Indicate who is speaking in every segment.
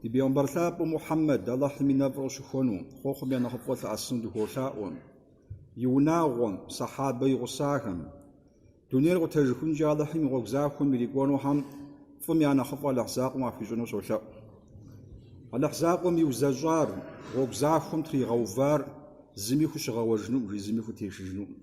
Speaker 1: Ди Бегъымбар лъапӏэ Мухьэммэд, Алыхьым и нэфӏыр къыщыхуэну, хъуэхъум я нэхъыфӏыр лъэӏэсыну дыхуолъаӏуэ, и унагъуэм, Сэхьабэ и гъусахэм. Дунейр къутэжыхункӏэ Алыхьым и гъуэгу захуэм ирикӏуэнухэм фӏым я нэхъыфӏ Алыхь закъуэм яхуищӏыну солъэӏу. Алыхь закъуэм иузэщӏар, гъуэгу захуэм тригъэувар зыми хущыгъэуэжынукъым, жи, зыми хутешыжынукъым.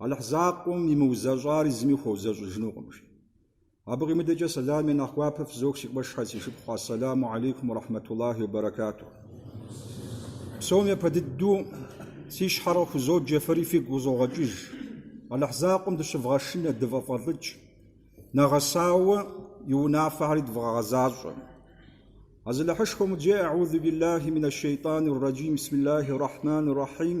Speaker 1: Алыхь закъуэм имыузэщӏари зыми хуэузэщӏыжынукъым, жи. Абы къимыдэкӏэ сэлам и нэхъ гуапэ фызох си къуэшхьэ, си шыпхъу, Ассэламу алейкум уэ рахьмэтуллахи уэ бэрэкатух. Псом япэ дыдэу си щхьэр къыхузоджэ, фэри фигу къызогъэкӏыж. Алыхь закъуэм дыщывгъэшынэ, дыфӏэвгъэлӏыкӏ. Нэгъэсауэ и унафэхьэри дывгъэгъэзащӏэ. Азалыхьышхуэм къыджеӏэ, Аӏузубиллахи минэшшэйтӏанирраджим, бисмиллахи ррахьманиррахьим.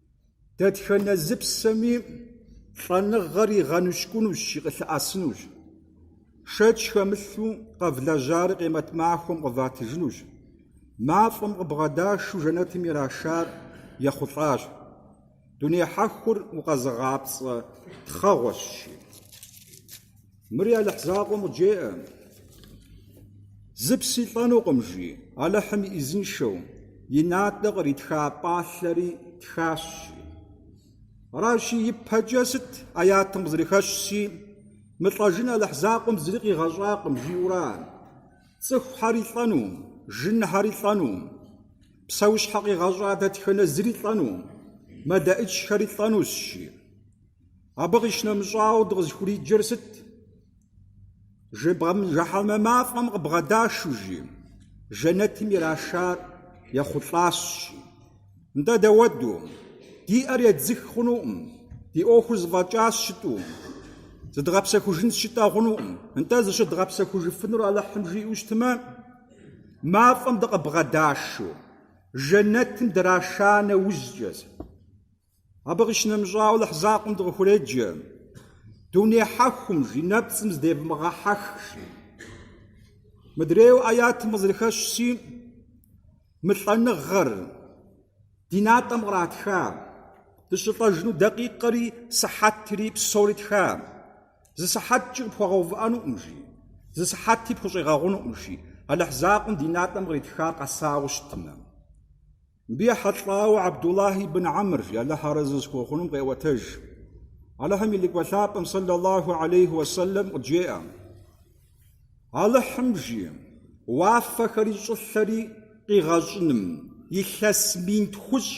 Speaker 1: Дэтхэнэ зы псэми лӏэныгъэр игъэныщкӏунущ, жи, къылъыӏэсынущ. Шэч хэмылъу къэвлэжьари къемэт махуэм къыватыжынущ. Мафӏэм къыбгъэдашу жэнэтым ирашар ехъулӏащ. Дуней хьэхур укъэзыгъапцӏэ тхъэгъуэщ, жи. Мыри Алыхь закъуэм къыджеӏэ. Зы пси лӏэнукъым, жи. Алыхьым и ӏизыншэу, и натӏэ къритха пӏалъэри тхащ, жи. Аращи, ипэкӏэ сыт ӏэятым къызэрыхэщщи, мылӏэжын Алыхь закъуэм зыри къигъэщӏакъым, жиӏэура? Цӏыхухьэри лӏэну, жынхьэри лӏэну, псэущхьэ къигъэщӏа дэтхэнэ зыри лӏэну, мэлэӏычхэри лӏэнущ, жи. Абы къищынэмыщӏауэ дыкъызыхуриджэр сыт? Жэбгъэм жэхьэнмэ мафӏэм къыбгъэдашу жи, жэнэтым ирашар ехъулӏащ жи. Нтӏэ дауэду, ди ӏэр едзых хъунукъым, ди ӏуэхур зэфӏэкӏащ жытӏу, зыдгъэпсэхужынщ жытӏэ хъунукъым. Нтӏэ зыщыдгъэпсэхужыфынур Алыхьым жиӏэу щытмэ, мафӏэм дыкъыбгъэдашу, жэнэтым драша нэужькӏэ. Абы къищынэмыщӏауэ Алыхь закъуэм дыкъыхуреджэ, Дуней хьэхум жи нэпцӏым здевмыгъэхьэх, жи. Мыдрейуэ ӏэятым къызэрыхэщщи, мы лӏэныгъэр ди натӏэм къратха, дыщылӏэжыну дакъикъэри, сыхьэтри, псори тха. Зы сыхьэткӏи къыпхуэгъэувыӏэнукъым, жи. Зы сыхьэти пхущӏегъэгъунукъым, жи. Алыхь закъуэм ди натӏэм къритха къэсауэ щытмэ. Мыбы ехьэлӏауэ Абдуллах ибн Амр, жи, Алыхь арэзы зыхуэхъуным къеӏуэтэж. Алыхьым и Лӏыкӏуэ Лъапӏэм, сэллаллаху алейхи уэ сэллэм, къыджеӏэ, Алыхьым жи, уафэхэри щӏылъэри къигъэщӏыным илъэс мин тхущӏ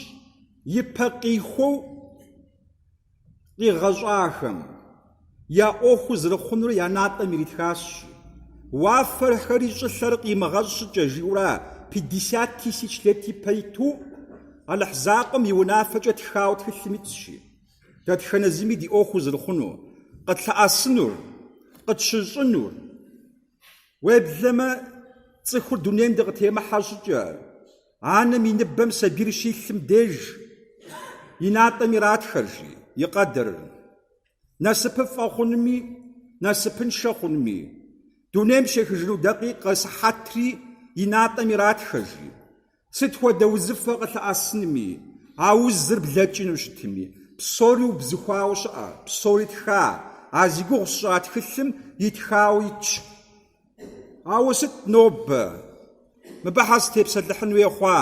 Speaker 1: ипэ къихуэу, къигъэщӏахэм я ӏуэхуу зэрыхъунур я натӏэм иритхащ. Уафэрхэри щӏылъэри къимыгъэщӏ щӏыкӏэ, жиӏэурэ пятьдесят тысяч лет ипэ иту Алыхь закъуэм и унафэкӏэ тхауэ тхылъым итщи, дэтхэнэ зыми ди ӏуэхуу зэрыхъунур, къытлъэӏэсынур, къытщыщӏынур. Уеблэмэ, цӏыхур дунейм дыкъытемыхьэ щӏыкӏэ, Анэм и ныбэм сабийр щилъым деж и натӏэм иратхэр жи, и къэдэр, насыпыфӏэ хъунми, насыпыншэ хъунми, дунейм щехыжыну дакъикъэ сыхьэтри и натӏэм иратхэ жи, сыт хуэдэ узыфэ къылъэӏэсынми, а узыр блэкӏыну щытми, псори убзыхуауэ щыӏэ, псори тха, а зи гугъу сщӏа тхылъым итхауэ итщ. Ауэ сыт нобэ мыбы щхьэ сытепсэлъыхьын хуей хъуа?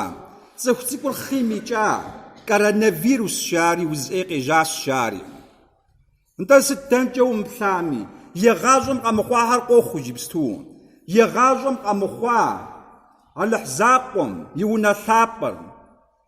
Speaker 1: Цӏыху цӏыкӏур хъийм икӏа? Коронавирус жари, уз ӏей къежьащ жари. Нтӏэ сыт дэнкӏэ умыплъами, егъащӏэм къэмыхъуахэр къохъу иджыпсту. Егъащӏэм къэмыхъуа Алыхь закъуэм и унэ лъапӏэр.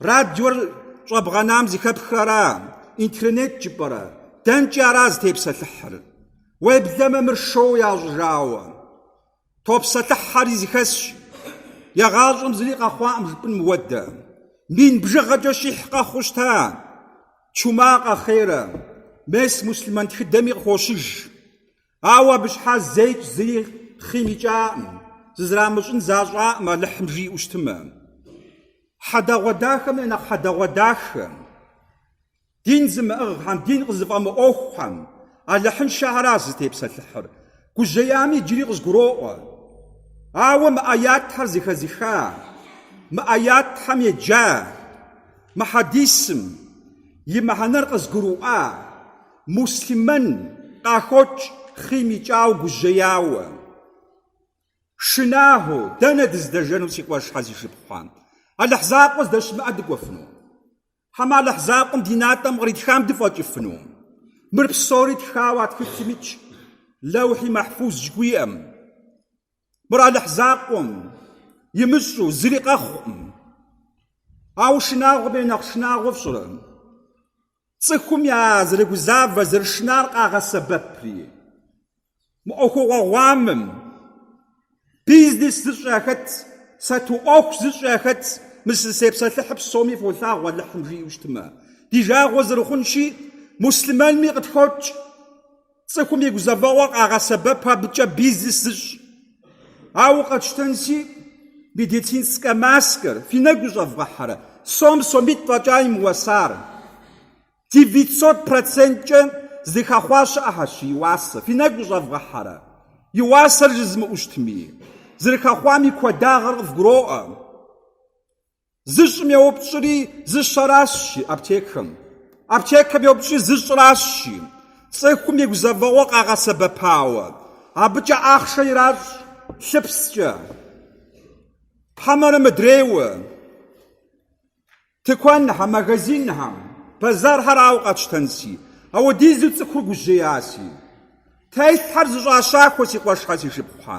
Speaker 1: Радиор щӏэбгъэнам зэхэпхыр ара, интернет жыпӏэрэ? Дэнкӏи ара зытепсэлъыхьыр? Уеблэмэ мыр шоу ящӏыжауэ. Топсэлъыхьэри зэхэсщ. Егъащӏэм зыри къэхъуакъым жыпӏын мыхуэдэ. Мин бжыгъэкӏэ щихь къэхъуу щыта? Чума къэхъейрэ? Мес муслъымэн тхыдэми къыхощыж. Ауэ абы щхьа зэикӏ зыри хъийм икӏакъым, зызэрамыщӏын защӏакъым Алыхьым жиӏэу щытымэ. Хьэдэгъуэдахэм я нэхъ хьэдэгъуэдахэм, дин зымыӏыгъхэм, дин къызыфӏэмыӏуэхухэм Алыхьыншэхэращ зытепсэлъыхьыр. Гужьеями иджыри къызгуроӏуэ. Ауэ мы ӏэятхэр зэхэзыха, мы ӏэятхэм еджа, мы хьэдисым и мыхьэнэр къызгурыӏуа, Муслъымэн къахокӏ хъийм икӏауэ, гужьеяуэ, шынахэуэ, дэнэ дыздэжэну си къуэшхэ, си шыпхъухэ? Алыхь закъуэ здэщымыӏэ дыкӏуэфыну? Хьэмэ Алыхь закъуэм ди натӏэм къритхам дыфӏэкӏыфыну? Мыр псори тхауэ а тхылъым итщ, Лэухьи Мэхьфуз жыхуиӏэм. Мыр Алыхь закъуэм имыщӏэу зыри къэхъукъым. Ауэ шынагъуэм я нэхъ шынагъуэ фщӏэрэ? Цӏыхум я зэрыгузавэ зэрышынар къагъэсэбэпри, мы ӏуэхугъуэ гъуамэм бизнес зыщӏ яхэт, сату ӏуэху зыщӏ яхэт мы сызытепсэлъыхьыр псоми фолъагъу Алыхьым жиӏэу щытмэ, ди жагъуэ зэрыхъунщи, муслъымэнми къытхокӏ. Цӏыхум и гузэвэгъуэ къагъэсэбэпу абыкӏэ бизнес зыщӏ. Ауэ къэтщтэнси, медицинскэ маскэр, фи нэгу щӏэвгъэхьэрэ, сом сомитӏ фӏэкӏа имыуэсар. Девятьсот проценткӏэ зыхэхъуа щыӏэхьэщ и уасэ, фи нэгу щӏэвгъэхьэрэ, и уасэр жызымыӏу щытми, зэрыхэхъуам и куэдагъыр къывгуроӏуэ. Зыщӏым йоупщӏри зыщэращ, жи аптекэм. Аптекэм йоупщӏри зыщӏыращ, жи. Цӏыхум и гузэвэгъуэ къагъэсэбэпауэ, абыкӏэ ахъшэ иращӏ лъыпскӏэ, хьэмэрэ мыдрейуэ, тыкуэнхьэм, магазинхьэм, бэзэрхьэр ауэ къэтщтэнси, ауэдизу цӏыхур гужьеяси. Телъхьэр зэщӏащэхуэ си къуэшхьэ, си шыпхъухьэ.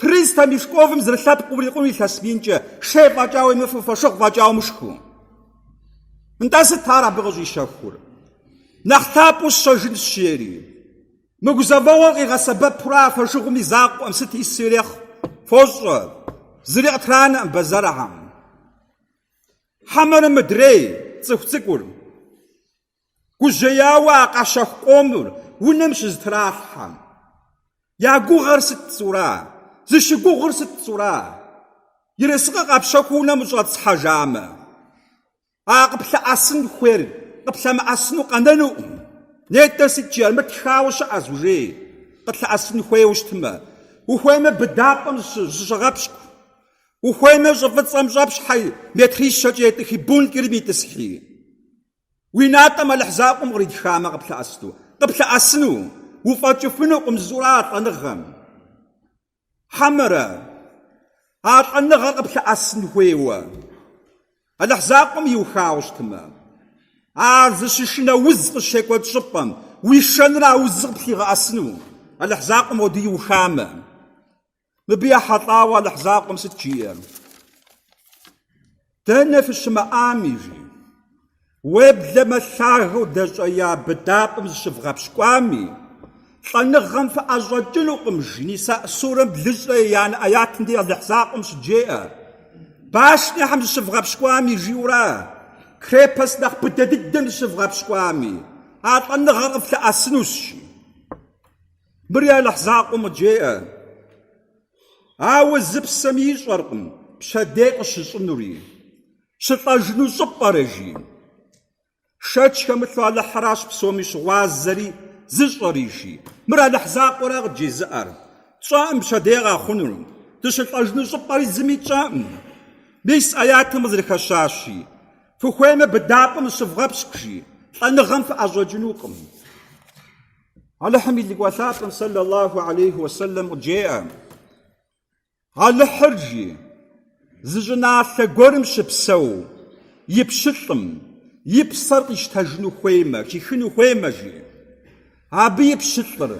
Speaker 1: Триста мешковым зэрылъэпкъ урикъун илъэс минкӏэ, шей фӏэкӏа уемыфу, фошыгъу фӏэкӏа умышху. Нтӏэ сыт ар абы къыщӏищэхур? Нэхъ лъапӏэу сщэжынщ, жери. Мы гузэвэгъуэр къигъэсэбэпурэ а фошыгъум и закъуэӏым, сыт ису ирехъу, фощӏэ. Зыри къытранэкъым бэзэрхьэм. Хьэмэрэ мыдрей, цӏыху цӏыкӏур. Гужьеяуэ а къащэху къомыр унэм щызэтралъхьэм, я гугъэр сыт пцӏура, зыщыгугъыр сыт пцӏура? Ерыскъы къэпщэхуу унэм ущӏэтӏысхьэжамэ, а къыплъэӏэсын хуейр къыплъэмыӏэсыну къэнэнукъым. Нетӏэ сыт жиӏэр, мыр тхауэ щыӏэщ, ужей къытлъэӏэсын хуейуэ щытмэ. Ухуеймэ, быдапӏэм зыщыгъэпщкӏу. Ухуеймэ, щӏы фӏыцӏэм щӏэпщхьи метрищэкӏэ етӏыхи, бункерым итӏысхьи. Уи натӏэм Алыхь закъуэм къритхамэ, къыплъэӏэсыну. Къыплъэӏэсыну. Уфӏэкӏыфынукъым зыщӏурэ а лӏэныгъэм. Хьэмэрэ, а лӏэныгъэр къыплъэӏэсын хуейуэ Алыхь закъуэм иухауэ щытмэ, ар зыщышынэ уз къыщекӏуэкӏ щӏыпӏэм уишэнурэ а узыр къыплъигъэӏэсыну, Алыхь закъуэм хуэдэу иухамэ. Мыбы ехьэлӏауэ Алыхь закъуэм сыт жиӏэр? Дэнэ фыщымыӏами, жи. Уеблэмэ лъагэу дэщӏея быдапӏэм зыщывгъэпщкӏуами, лӏэныгъэм фыӏэщӏэкӏынукъым, жи. Ниса сурэм блыщӏрэ еянэ аятым дей Алыхь закъуэм щыджеӏэ, Башнэхэм зыщывгъэпщкӏуами, жиӏэурэ, крепость нэхъ быдэ дыдэм зыщывгъэпщкӏуами, а лӏэныгъэр къыфлъэӏэсынущ, жи. Мыри Алыхь закъуэм къыджеӏэ. Ауэ зы псэми ищӏэркъым пщэдей къыщыщӏынури, щылӏэжыну щӏыпӏэри, жи. Шэч хэмылъу Алыхьыращ псоми щыгъуазэри зыщӏэри жи. Мыр Алыхь закъуэра къыджезыӏэр? Тщӏэӏым пщэдей къэхъунур, дыщылӏэжыну щӏыпӏ пӏэри зыми тщӏэӏым. Мис аятым къызэрыхэщащи, Фыхуеймэ, быдапӏэм зыщывгъэпщкӏу жи, лӏэныгъэм фыӏэщӏэкӏынукъым. Алыхьым и лӏыкӏуэ лъапӏэм сэллаллаху алейхи уэсэлэм къыджеӏэ, Алыхьыр, жи, зы щӏыналъэ гуэрым щыпсэу и пщылӏым и псэр къищтэжыну хуеймэ, хихыну хуеймэ, жи, абы и пщылӏыр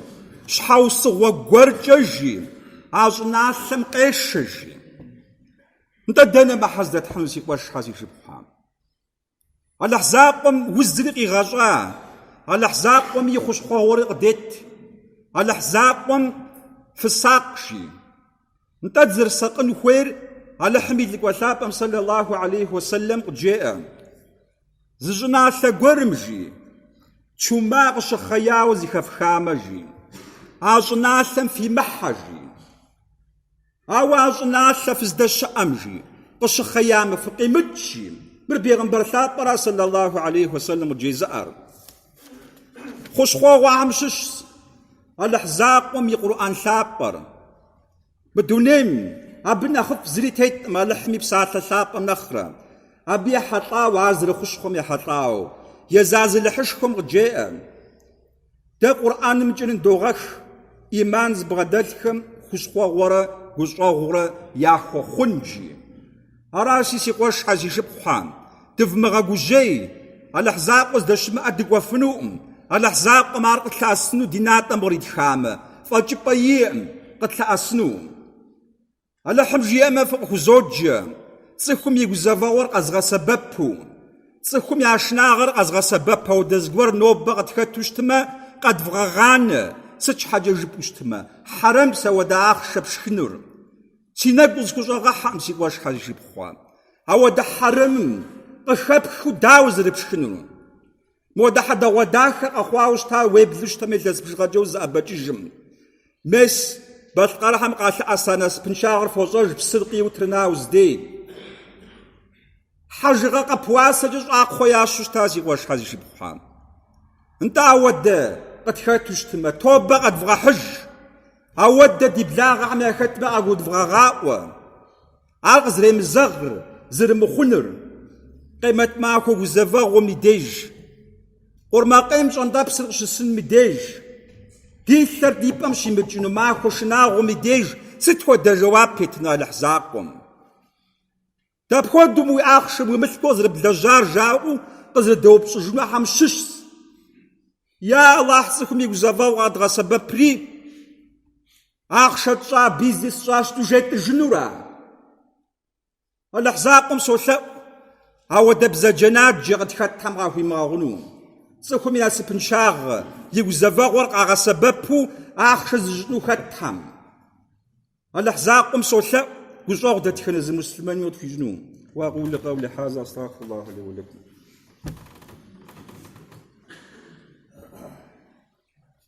Speaker 1: щхьэусыгъуэ гуэркӏэ, жи, а щӏыналъэм къешэ, жи. Нтӏэ дэнэ мыхьэ здэтхьыну си къуэшхьэ си шыпхъухьэ? Алыхь закъуэм узри къигъэщӏа, Алыхь закъуэм и хущхъуэгъуэри къыдет, Алыхь закъуэм фысакъ, жи. Нтӏэ дызэрысакъын хуейр Алыхьым и Лӏыкӏуэ Лъапӏэм сэллаллаху алейхи уэ сэллэм къыджеӏэ. Зы щӏыналъэ гуэрым, жи, чума къыщыхъеяуэ зыхэфхамэ, жи, а щӏыналъэм фимыхьэ, жи. Ауэ а щӏыналъэ фыздэщыӏэм, жи, къыщыхъеямэ, фыкъимыкӏ, жи. Мыр Бегъымбар лъапӏэра, сэллаллаху алейхи уэ сэлэм, къыджезыӏэр? Хущхъуэгъуэхьэм щыщщ Алыхь закъуэм и Къурӏэн лъапӏэр. Мы дунейм абы нэхъыфӏ зыри тетӏым, Алыхьым и Псалъэ лъапӏэм нэхърэ. Абы ехьэлӏауэ, ар зэрыхущхъуэм ехьэлӏауэ, езы Азалыхьышхуэм къыджеӏэ. Дэ Къурӏанымкӏэрэ ныдогъэх ӏиман зыбгъэдэлъхэм хущхъуэгъуэрэ гущӏэгъурэ яхуэхъун, жи. Аращи, си къуэшхьэ, си шыпхъухьэ, дывмыгъэгужьей, Алыхь закъуэ здэщымыӏэ дыкӏуэфынукъым, Алыхь закъуэм ар къытлъэӏэсыну ди натӏэм къритхамэ, фӏэкӏыпӏэ иӏэӏым къытлъэӏэсынум. Алыхьым жиӏэмэ фыкъыхузоджэ, цӏыхум и гузэвэгъуэр къэзгъэсэбэпу. Цӏыхум я шынагъэр къэзгъэсэбэп ауэдэ зыгуэр нобэ къытхэту щытмэ, къэдвгъэгъанэ, сыт щхьэкӏэ жыпӏэу щытмэ, хьэрэмыпс ауэдэ ахъшэ пшхынур. Си нэгу схущӏэгъэхьэкъым си къуэшхьэ, си шыпхъухьэ. Ауэдэ хьэрэмым къыхэпхыу дауэ зэрыпшхынур? Модэ хьэдагъуэдахэр къэхъуауэ щыта уеплъу щытмэ илъэс бжыгъэкӏэ узэӏэбэкӏыжмэ. Мес, балъкъэрыхьэм къалъэӏэса насыпыншагъэр фощӏэж псыр къиу Тырныауз дей. Хьэжыгъэ къэп уасэкӏэ щӏакхъуэ ящу щыта си къуэшхьэ, си шыпхъухьэ. Нтӏэ ауэдэ къытхэту щытмэ, тобэ къэдвгъэхьыж. Ауэдэ ди благъэхэм яхэтмэ къагудвгъэгъаӏуэ. Ар къызремызэгъыр, зэрымыхъунур, Къемэт махуэ гузэвэгъуэм и деж, Къурмакъейм щӏэнтӏэпсыр къыщысыным и деж, Ди лъэр ди пӏэм щимыкӏыну махуэ шынагъуэм и деж сыт хуэдэ жэуап еттыну Алыхь закъуэм? Дапхуэдэу мо ахъшэ, мо мылъку къызэрыблэжьар жаӏэу къызэрыдэупщӏыжынухьэм щыщщ. Я Алыхь цӏыхум и гузэвэгъуэ къэдгъэсэбэпри, Ахъшэ тщӏа бизнес тщӏа, сыту жетӏыжынура? Алыхь закъуэм солъэӏу апхуэдэ бзаджэнаджэ къытхэтхэм къахуимыгъэгъуну. Цӏыхум и насыпыншагъэ, и гузэвэгъуэр къагъэсэбэпу ахъшэ зыщӏыну хэтхэм. Алыхь закъуэм солъэӏу гущӏэгъу дэтхэнэ зы муслъымэни къытхуищӏыну. Уэ акъулу къэули хьаза астагъфируллахьэ ли уэ лэкум.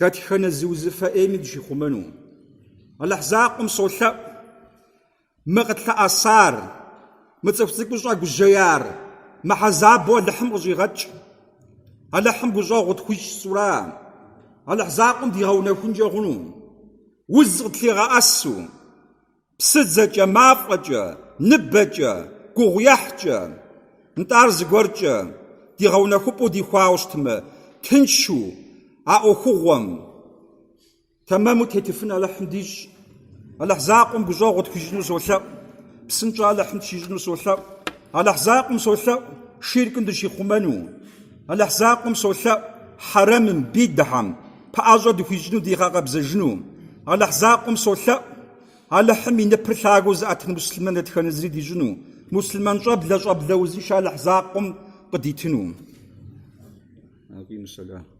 Speaker 1: Дэтхэнэ зы узыфэ ӏейми дыщихъумэну. Алыхь закъуэм солъэӏу мы къытлъэӏэсар, мы цӏыху цӏыкӏур щӏэгужьеяр мыхьэзабу Алыхьым къыщӏигъэкӏ. Алыхьым гущӏэгъу къытхуищӏ сӏура? Алыхь закъуэм дигъэунэхункӏэ хъуну? Уз къытлъигъэӏэсу? Псыдзэкӏэ, мафӏэкӏэ, ныбэкӏэ, гугъуехькӏэ, нтӏэ ар зыгуэркӏэ ди гъэунэхупӏэу дихуауэ щытмэ, тыншу а ӏуэхугъуэм тэмэму тетыфын Алыхьым дищӏ. Алыхь закъуэм гущӏэгъу тхуищӏыну солъэӏу, псынщӏэ Алыхьым тщищӏыну солъэӏу. Алыхь закъуэм солъэӏу ширкым дыщихъумэну. Алыхь закъуэм солъэӏу хьэрэмым, бидыхьэм. Пэӏэщӏэ дыхуищӏыну дигъэкъэбзэжыну Алыхь закъуэм солъэӏу. Алыхьым и ныпыр лъагэу зыӏэтын муслъымэн дэтхэнэ зыри дищӏыну, муслъымэн щӏэблэ щӏэблэ узыншэ Алыхь закъуэм къыдитыну.